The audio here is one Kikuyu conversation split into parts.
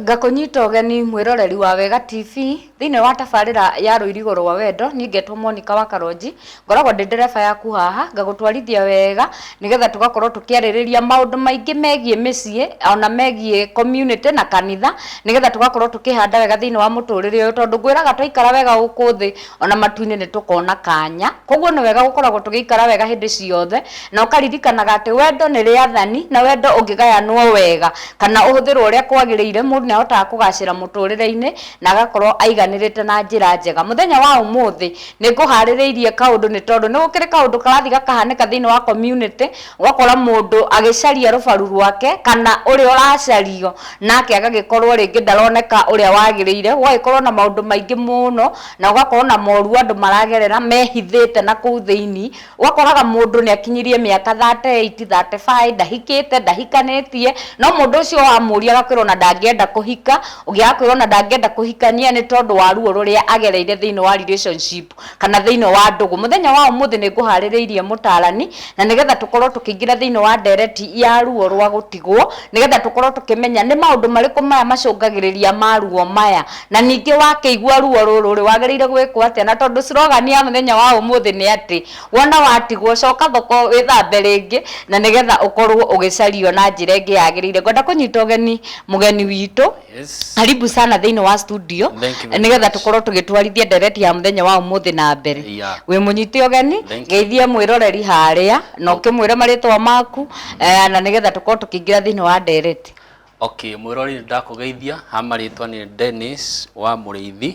ngakũnyita ũgeni mwĩroreri wa wega tv thĩinĩ wa tabarĩra ya rũirigo rwa wendo niĩ ngetwo monika wa karonji ngoragwo ndĩ ndereba yaku haha ngagũtwarithia wega nĩgetha tũgakorwo tũkĩarĩrĩria maũndũ maingĩ megiĩ mĩciĩ ona megiĩ community na kanitha nĩgetha tũgakorwo tũkĩhanda wega thĩinĩ wa mũtũrĩre ũyũ tondũ ngwĩraga twaikara wega gũkũ thĩ ona matu-inĩ nĩ tũkona kanya. Koguo nĩ wega gũkoragwo tũgĩikara wega hĩndĩ ciothe, na ũkaririkanaga atĩ wendo nĩ rĩathani, na wendo ũngĩgayanwo wega, kana ũhũthĩrwo ũrĩa kwagĩrĩire, mũndũ nĩ ahotaga kũgacĩra mũtũrĩre-inĩ, na agakorwo aiganĩrĩte na njĩra njega. Mũthenya wa ũmũthĩ, nĩ ngũharĩrĩirie kaũndũ nĩ tondũ nĩ gũkĩrĩ kaũndũ karathiĩ gakahanĩka thĩiniĩ wa community, Ũgakora mũndũ agĩcaria rũbaru rwake kana ũrĩa ũracario nake agagĩkorwo rĩngĩ ndaroneka ũrĩa wagĩrĩire, gũgagĩkorwo na maũndũ maingĩ mũno na gũgakorwo na moru andũ maragerera mehithĩte na kũu thĩinĩ. Ũgakoraga mũndũ nĩ akinyirie mĩaka thate ĩiti, thate baĩ, ndahikĩte, ndahikanĩtie, no mũndũ ũcio wamũria agakwĩra ona ndangĩenda kũhika, ũngĩ agakwĩra ona ndangĩenda kũhikania nĩ tondũ wa ruo rũrĩa agereire thĩinĩ wa relationship. kana thĩinĩ wa ndũgũ. Mũthenya wa ũmũthĩ nĩ ngũharĩrĩirie mũtarani na nĩgetha tũkorwo tũkĩingĩra thĩinĩ wa ndereti ya ruo rwa gũtigwo nĩgetha tũkorwo tũkĩmenya nĩ maũndũ marĩkũ maya macũngagĩrĩria ma ruo maya na ningĩ wakĩigua ruo rũrũ rĩ wagĩrĩire gwĩkwo atĩa na tondũ slogan ya mũthenya wa ũmũthĩ nĩ atĩ wona watigwo coka thoko wĩthambe rĩngĩ na nĩgetha ũkorwo ũgĩcario na njĩra ĩngĩ yagĩrĩire. Ngwenda kũnyita ũgeni mũgeni witũ Yes. karibu sana thĩinĩ wa studio Thank you very nĩgetha much. tũkorwo tũgĩtwarithia ndereti ya mũthenya wa ũmũthĩ na mbere Yeah. wĩ mũnyite ũgeni Thank you. geithia mwĩroreri harĩa na ũkĩmwĩre marĩtwa maku eh, na nĩgetha tũkorwo tũkĩingĩra thĩinĩ wa ndereti okay mwĩrori ndakũgeithia ha marĩtwa nĩ dennis wa mũrĩithi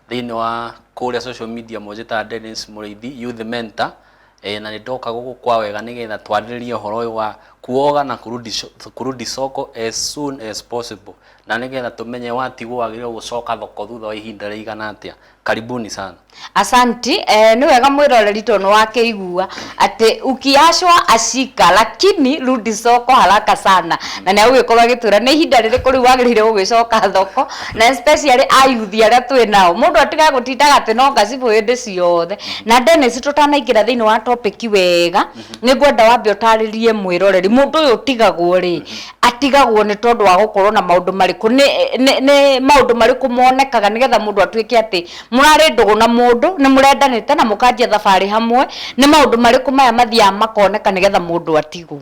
thĩinĩ wa kũrĩa social media mũnjĩtaga dennis mũrĩithi youth mentor Ĩĩ na nĩndoka gũkũ kwa wega nĩgetha twarĩrĩrie ũhoro ũyũ wa kuoga na kurudi soko as soon as possible na nĩgetha tũmenye watigwo wagĩrĩirwo gũcoka thoko thutha wa ihinda rĩigana atĩa. Karibuni sana. Asanti, eh, nĩ wega mwĩroreri tondũ nĩwakĩigua atĩ ukiachwa ashika lakini rudi soko haraka sana na nĩagũgĩkorwo agĩtwĩra nĩ ihinda rĩrĩkũ rĩu wagĩrĩire gũgĩcoka thoko. na especially ayuthi arĩa twĩ nao mũndũ atiga gũtindaga atĩ no ngacibũ hĩndĩ ciothe na Dennis tũtanaingĩra thĩinĩ wa topic wega nĩ ngwenda wambe ũtarĩrie mwĩroreri mũndũ ũyũ ũtigagwo rĩ atigagwo nĩ tondũ wa gũkorwo na maũndũ marĩkũ nĩ nĩ- nĩ maũndũ marĩkũ monekaga nĩgetha mũndũ atuĩke atĩ mũrarĩ ndũgũ na mũndũ nĩ mũrendanĩte na mũkanjia thabarĩ hamwe nĩ maũndũ marĩkũ maya mathiaga makoneka nĩgetha mũndũ atigwo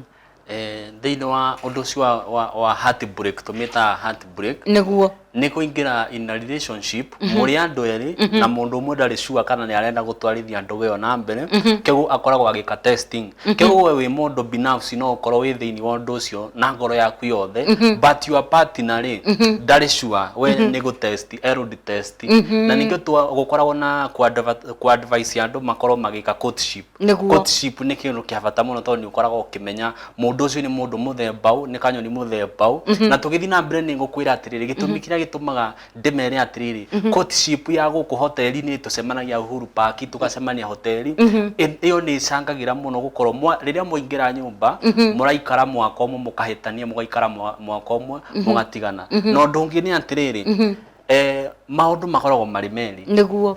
Eh, thĩinĩ wa ũndũ ũcio wa, wa, wa heartbreak tũmĩtaga heartbreak nĩguo nĩ kũingĩra in a relationship mũrĩ andũ erĩ na mũndũ ũmwe ndarĩ sure kana nĩ arenda gũtwarithia ndũgũ ĩyo na mbere kĩguo akoragwo agĩka testing kĩguo we wĩ mũndũ binafsi no ũkorwo wĩ thĩinĩ wa ũndũ ũcio na ngoro yaku yothe but your partner rĩ ndarĩ sure we nĩ gũtest erũdi test na ningĩ twa- gũkoragwo na kũ-adva- kũ-advise andũ makorwo magĩka courtship Nĩguo. Courtship nĩ kĩndũ kĩa bata mũno tondũ nĩ ũkoragwo ũkĩmenya mũndũ ũcio nĩ mũndũ mũthemba ũũ, nĩ kanyoni mũthemba ũũ. Na tũgĩthiĩ na mbere nĩ ngũkwĩra atĩrĩrĩ, gĩtũmi kĩrĩa gĩtũmaga ndĩmere atĩrĩrĩ, courtship ya gũkũ hoteri-inĩ tũcemanagia Uhuru Park, tũgacemania hoteri, ĩ- ĩyo nĩ ĩcangagĩra mũno gũkorwo mwa- rĩrĩa mwaingĩra nyũmba, mũraikara mwaka ũmwe mũkahĩtania, mũgaikara mwa- mwaka ũmwe mũgatigana. Na ũndũ ũngĩ nĩ atĩrĩrĩ, eh, maũndũ makoragwo marĩ merĩ. Nĩguo.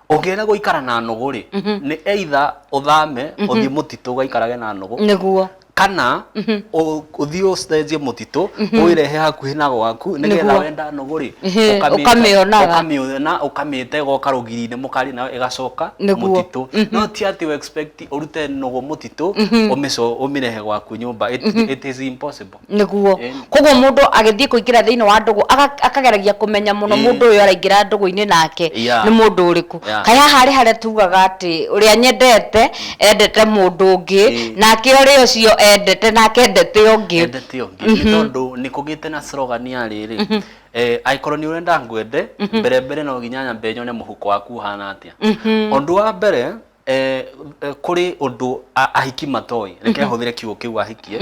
ũngĩrega gũikara na nũgũ rĩ nĩ either ũthame ũthiĩ mũtitũ ũgaikarage na nũgũ nĩguo kana ũ- ũthiĩ ũcenjie mũtitũ ũĩrehe hakuhĩ na gwaku nĩgetha Nĩguo. wenda nũgũ rĩ Ehe, ũkamĩta- ũkamĩonaga. ũkamĩona ũkamĩte goka rũgiri-inĩ mũkarĩ nayo ĩgacoka Nĩguo. mũtitũ no ti atĩ ũexpect ũrute nũgũ mũtitũ ũmĩco- ũmĩrehe gwaku nyũmba It- it is impossible nĩguo Ĩni. koguo mũndũ agĩthiĩ kũingĩra thĩinĩ wa ndũgũ aga- akageragia kũmenya mũno Ĩĩ. mũndũ ũyũ araingĩra ndũgũ-inĩ nake Yeah. nĩ mũndũ ũrĩkũ Yeah. kaĩ haha arĩ harĩa tugaga atĩ ũrĩa nyendete endete mũndũ ũngĩ Ĩĩ. nake ũrĩa ũcio endete nake endete ũngĩ endete ũngĩ nĩ tondũ nĩ kũgĩte na slogan ya rĩrĩ eh, angĩkorwo nĩ ũrenda ngwende mbere mbere no nginya nyambe nyone mũhuko waku ũhana atĩa ũndũ wa mbere eh, eh, kũrĩ ũndũ a- ahiki matoĩ reke hũthĩre kiugo kĩu ahikie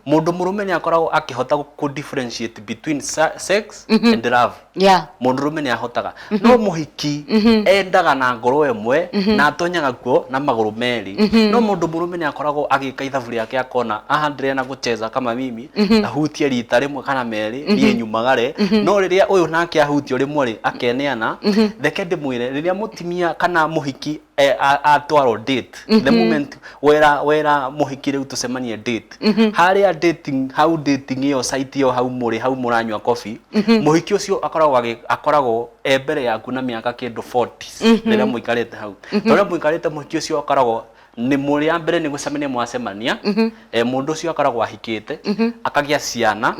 mũndũ mũrũme nĩ akoragwo akĩhota kũ differentiate between sa- sex and love yeah mũndũ rũme nĩ ahotaga no mũhiki endaga na ngoro ĩmwe na atonyaga kuo na magũrũ merĩ no mũndũ mũrũme nĩ akoragwo agĩka ithabu rĩake akona aha ndĩrena gũcheza kama mimi na hutie rita rĩmwe kana merĩ niĩ nyumagare no rĩrĩa ũyũ nake ahutio rĩmwe rĩ akeneana reke ndĩmwĩre rĩrĩa mũtimia kana mũhiki eh, a- atwarwo date the moment wera wera mũhiki rĩu tũcemanie date harĩa dating hau dating ĩyo site ĩyo hau mũrĩ hau mũranyua coffee mũhiki ũcio akoragwo agĩ- akoragwo e mbere yaku na mĩaka kĩndũ 40 rĩrĩa mũikarĩte hau tondũ rĩrĩa mũikarĩte mũhiki ũcio akoragwo nĩ mũrĩ ya mbere nĩ gũcemania mwacemania eh, mũndũ ũcio akoragwo ahikĩte akagĩa ciana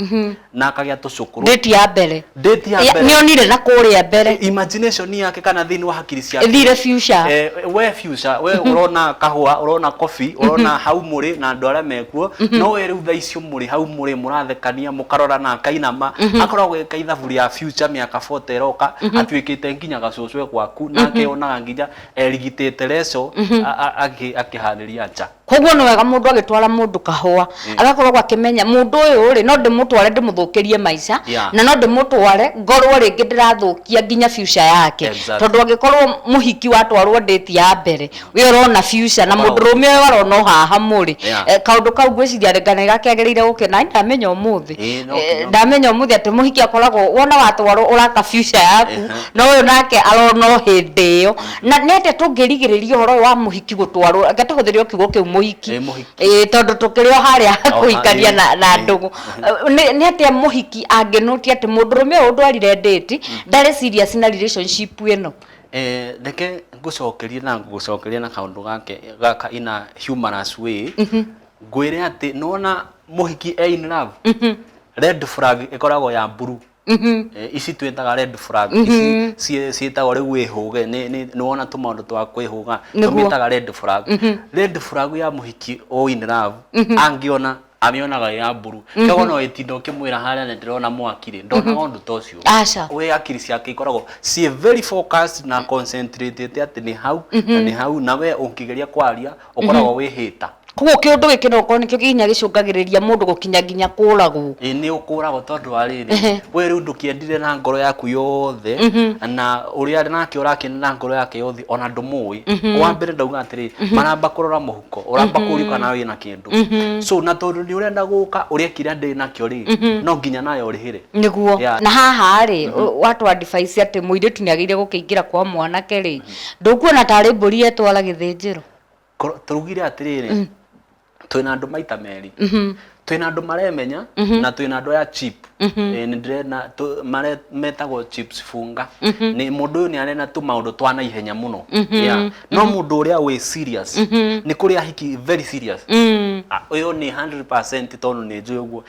na akagĩa tũcũkũrũ ndĩti ya mbere Date ya Ya- mbere. nĩonire na kũrĩa mbere imagination yake kana thĩinĩ wa hakiri ciake ĩthire future Eh, we future we urona kahua urona kofi urona hau muri na andu aria mekuo no we riu thaa icio muri hau muri murathekania mukarorana akainama akoragwo eka ithabu ria future miaka 40 iroka atuikite nginya gacucwe gwaku nake onaga nginya erigitĩte reco a- a- akĩ- akĩharĩria nja koguo nĩ wega mũndũ agĩtwara mũndũ kahũa agakoragwo akĩmenya mũndũ ũyũ rĩ no ndĩmũtware ndĩmũthũkĩrie maica Yeah. na no ndĩmũtware ngorwo rĩngĩ ndĩrathũkia nginya future yake Exactly. tondũ angĩkorwo mũhiki watwarwo ndĩti ya mbere we ũrona future na mũndũ Ũrona. rũme ũyũ arona ũhahamu rĩ Yeah. eh, kaũndũ kau ngwĩciria rĩngana gakĩagĩrĩire gũkena "Ai, ndamenya ũmũthĩ Ĩĩ, no Eh, nginya ndamenya ũmũthĩ atĩ mũhiki akoragwo wona watwarwo ũraka future yaku Ehe. na ũyũ nake arona o hĩndĩ ĩyo na nĩ atĩa tũngĩrigĩrĩria ũhoro ũyũ wa mũhiki gũtwarwo reke tũhũthĩre o kiugo kĩu mũhiki Eh, mũhiki. Eh, tondũ tũkĩrĩ o harĩa Oh, kũhikania ah, na- na eh, ndũgũ nĩ nĩ atĩa mũhiki angĩnũtia atĩ mũndũrũme ũyũ ndwarire ndĩti ndarĩ serious na relationship ĩno Eh, reke ngũcokerie na ngũcokerie na kaũndũ gake gaka ina humorous way ngwĩre atĩ nona mũhiki e in love red flag ĩkoragwo ya blue Mhm. Eh, ici twĩtaga red flag ici ciĩ- ciĩtagwo rĩu wĩhũge nĩ- nĩ- nĩ wona tũmaũndũ twa kwĩhũga Nĩguo. tũmĩtaga red flag red flag ya mũhiki o in love angĩona amĩonaga ĩ ya mburu kĩago no ĩtinda ũkĩmwĩra harĩa nĩ ndĩrona mwaki rĩ ndonaga ũndũ ta ũcio Aca. we akiri ciake ikoragwo ciĩ very focused na concentrated atĩ nĩ hau na nĩ hau na we ũngĩgeria kwaria ũkoragwo wĩ hĩta koguo kĩũndũ gĩkĩ no gũkorwo nĩkĩo nginya gĩcũngagĩrĩria mũndũ gũkinya nginya kũragwo ĩ nĩ ũkũragwo tondũ wa rĩrĩ Ehe. we rĩu ndũkĩendire na ngoro yaku yothe na ũrĩa arĩ nake ũrakĩenda na ngoro yake yothe ona ndũmũĩ wa mbere ndauga atĩrĩ maramba kũrora mũhuko ũramba kũũrio kana wĩ na kĩndũ so na tondũ nĩ ũrenda gũka ũrĩa kĩrĩa ndĩ nakĩo rĩ no nginya nayo ũrĩhĩre nĩguo Yeah. na haha rĩ watwa advice atĩ mũirĩtu nĩ agĩrĩire gũkĩingĩra kwa mwanake rĩ Ndũkuona tarĩ mbũri etwara gĩthĩnjĩro? Koro- tũrugire atĩrĩrĩ twĩna andũ maita merĩ twĩna andũ maremenya na twĩna andũ aya chip Eh, nĩndĩrena tũ- mare- metagwo chips funga nĩ mũndũ ũyũ nĩ arena tũ maũndũ twa na ihenya mũno Yeah. no mũndũ ũrĩa wĩ serious nĩ kũrĩa hiki very serious Ah, ũyũ nĩ 100% tondũ nĩ njũĩ ũguo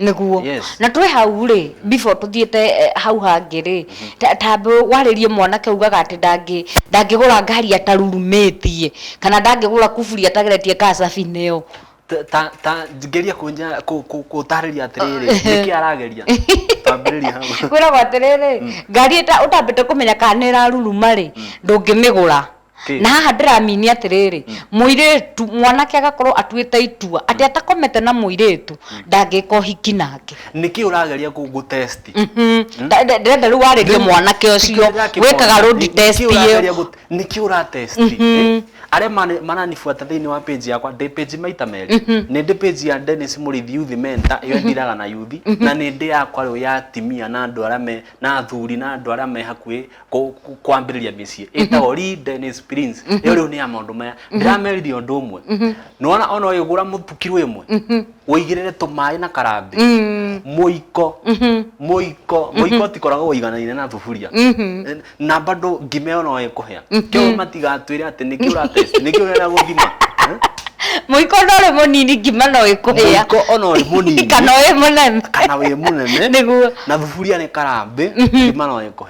nĩguo Yes. na twĩ hau rĩ before tũthiĩte eh, hau hangĩ rĩ ta- tambe warĩrie mwanake ugaga atĩ ndangĩ ndangĩgũra ngari atarurumĩtie kana ndangĩgũra kuburi atageretie kaa cabineo Ta- ta- ta ngeria kũnja- kũ- kũ- kũtarĩria atĩrĩrĩ nĩkĩ arageria tambĩrĩria hau kwĩragwo atĩrĩrĩ ngari ĩta- ũtambĩte kũmenya kana nĩ ĩraruruma rĩ ndũngĩmĩgũra Ti. na haha ndĩramini atĩrĩrĩ mũirĩtu mwanake agakorwo atuĩte itua atĩ atakomete na mũirĩtu ndangĩka ũhiki nake nĩkĩ ũrageria kũ- gũtesti Mhm. Nda- nda- ndĩrenda rĩu warĩrie mwanake ũcio wĩkaga road test ĩyo nĩkĩ ũratesti eh? arĩa mani- maranibuata thĩinĩ wa page yakwa ndĩ page maita merĩ nĩ ndĩ page ya Dennis Mũrĩithi Youth Mentor ĩyo ndiraga na yuthi na nĩ ndĩ yakwa rĩu ya atimia na andũ arĩa me na athuri na andũ arĩa me hakuhĩ kũ- kũ- kwambĩrĩria mĩciĩ ĩtagwo Lee Dennis Prince ĩyo rĩu nĩ ya maũndũ maya ndĩrameririe ũndũ ũmwe nĩwona ona ũyũ gũra mũtukirũ ĩmwe ũigĩrĩre tũmaĩ na karambĩ mũiko mũiko mũiko ũtikoragwo ũiganaine na thuburia na bado ngima ĩyo no ĩkũhĩa kĩo matigatwĩre atĩ nĩkĩ ũratest nĩkĩ ũrenda gũthima Eh? mũiko no rĩ mũnini ngima no ĩkũhĩa mũiko ona ũrĩ mũnini kana wĩ mũnene kana wĩ mũnene Nĩguo. na thuburia nĩ karambĩ ngima no ĩkũhĩa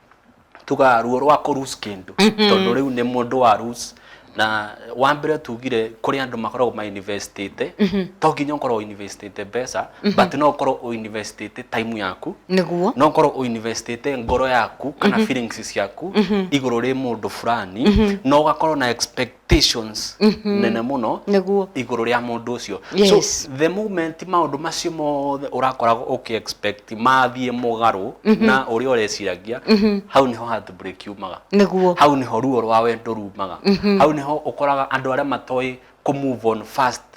tuga ruo rwa kå lose kĩndũ tondũ rĩu nĩ mũndũ wa lose na wa mbere tugire kũrĩ andũ makoragwo ma investĩte to nginya ũkorwo ũ investĩte mbeca but no ũkorwo ũ investĩte time yaku nĩguo no ũkorwo ũ investĩte ngoro yaku kana feelings ciaku igũrũ rĩ mũndũ fulani na ũgakorwo na expect expectations nene mũno Nĩguo. igũrũ rĩa mũndũ ũcio Yes. so the moment maũndũ macio mothe ũrakoragwo ũkĩ expect mathiĩ mũgarũ na ũrĩa ũreciragia hau nĩho heartbreak yumaga Nĩguo. hau nĩho ruo rwa wendo rumaga hau nĩho ũkoraga andũ arĩa matoĩ kũ move on fast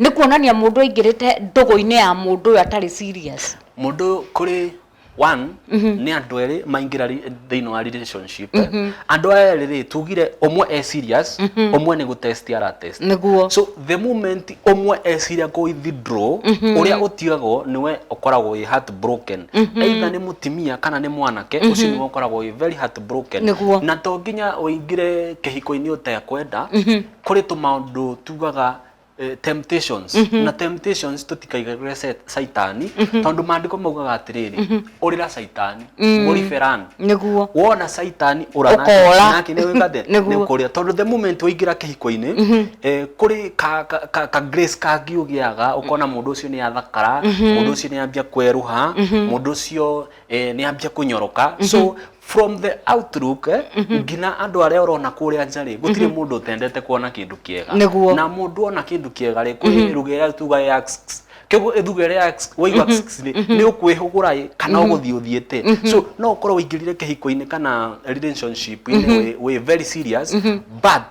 nĩ kuonania mũndũ aingĩrĩte ndũgũ-inĩ ya mũndũ ũyũ atarĩ serious mũndũ kũrĩ one nĩ andũ erĩ maingĩra ri- thĩinĩ wa relationship andũ aya erĩ rĩ tugire ũmwe e serious ũmwe nĩ gũtest aratest nĩguo so the moment ũmwe eciria kũ withdraw ũrĩa ũtigagwo nĩwe ũkoragwo wĩ heartbroken either nĩ mũtimia kana nĩ mwanake ũcio nĩwe ũkoragwo wĩ very heartbroken Nĩguo. na to nginya ũingĩre kĩhiko-inĩ ũtekwenda kũrĩ tũmaũndũ tugaga eh, temptations na temptations tũtikaigarũre set- caitani tondũ maandĩko maugaga atĩrĩrĩ ũrĩra caitani mũriberan nĩguo wona caitani Ũkora. ũranakĩnĩwĩkathe Nĩguo. nĩ kũrĩa tondũ the moment waingĩra kĩhiko-inĩ eh, kũrĩ ka, ka, ka, ka grace kangĩ ũgĩaga ũkona mũndũ ũcio nĩ athakara mũndũ ũcio nĩ ambia kwerũha mũndũ ũcio eh, nĩ ambia kũnyoroka so from the outlook eh, nginya andå arä a orona kå rä a nja rä gå tirä må ndå å tendete kuona kä ndå kä ega Nĩguo. na må ndå ona kä ndå kä ega rä kwä rugä ä rä a tuga ya kĩguo ĩthuga ĩrĩa ya x- waigua x- rĩ, nĩ ũkwĩhũgũra ĩ kana ũgũthiĩ ũthiĩte so no ũkorwo ũingĩrire kĩhiko-inĩ kana relationship-inĩ wĩ- wĩ very serious but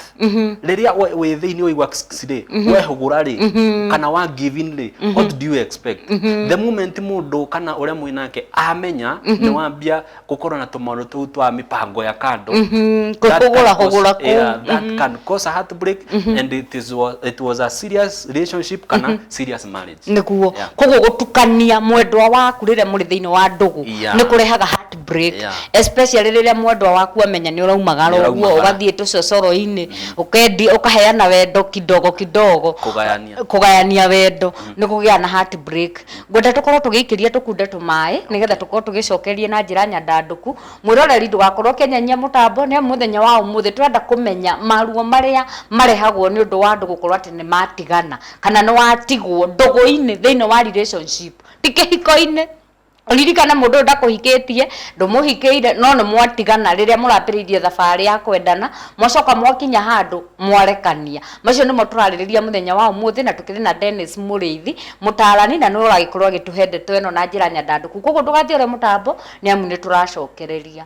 rĩrĩa we- wĩ thĩinĩ waigua x- x- rĩ wehũgũra rĩ kana wa give in rĩ what do you expect the moment mũndũ kana ũrĩa mwĩ nake amenya nĩ wambia gũkorwo na tũmaũndũ tũu twa mĩbango ya kando Mhm, That can kũhũgũra cause- hũgũra kũu. yeah, that can cause a heartbreak and it, is, wa- it was a serious relationship kana serious marriage nĩguo Yeah. koguo gũtukania mwendwa waku rĩrĩa mũrĩ thĩinĩ wa ndũgũ Yeah. nĩ kũrehaga heartbreak Yeah. especially rĩrĩa mwendwa waku amenya nĩ ũraumagara Nĩ ũguo ũraumagara. ũgathiĩ tũcocoro-inĩ ũkendi ũkaheana wendo kidogo kidogo Kũgayania. kũgayania wendo nĩ kũgĩa na heartbreak Ngwenda tũkorwo tũgĩikĩria tũkunda tũmaĩ nĩgetha tũkorwo tũgĩcokereria na njĩra nyandandũku. Mwĩroreri ndũgakorwo ũkĩnyenyia mũtambo nĩ amu mũthenya wa ũmũthĩ tũrenda kũmenya maruo marĩa marehagwo nĩ ũndũ wa andũ gũkorwo atĩ nĩ matigana kana nĩ watigwo ndũgũ-inĩ thĩinĩ wa relationship ti kĩhiko-inĩ. Ũririkane mũndũ ũyũ ndakũhikĩtie, ndũmũhikĩire no nĩ mwatigana rĩrĩa mũrambĩrĩirie thabarĩ ya kwendana, mwacoka mwakinya handũ mwarekania. Macio nĩmo tũrarĩrĩria mũthenya wa ũmũthĩ na tũkĩrĩ na Dennis Mũrĩithi mũtaarani na nĩwe ũragĩkorwo agĩtũhe ndeto ĩno na njĩra nyandandũku. Kwoguo ndũgathiĩ ũrĩa mũtambo nĩ amu nĩ tũracokereria.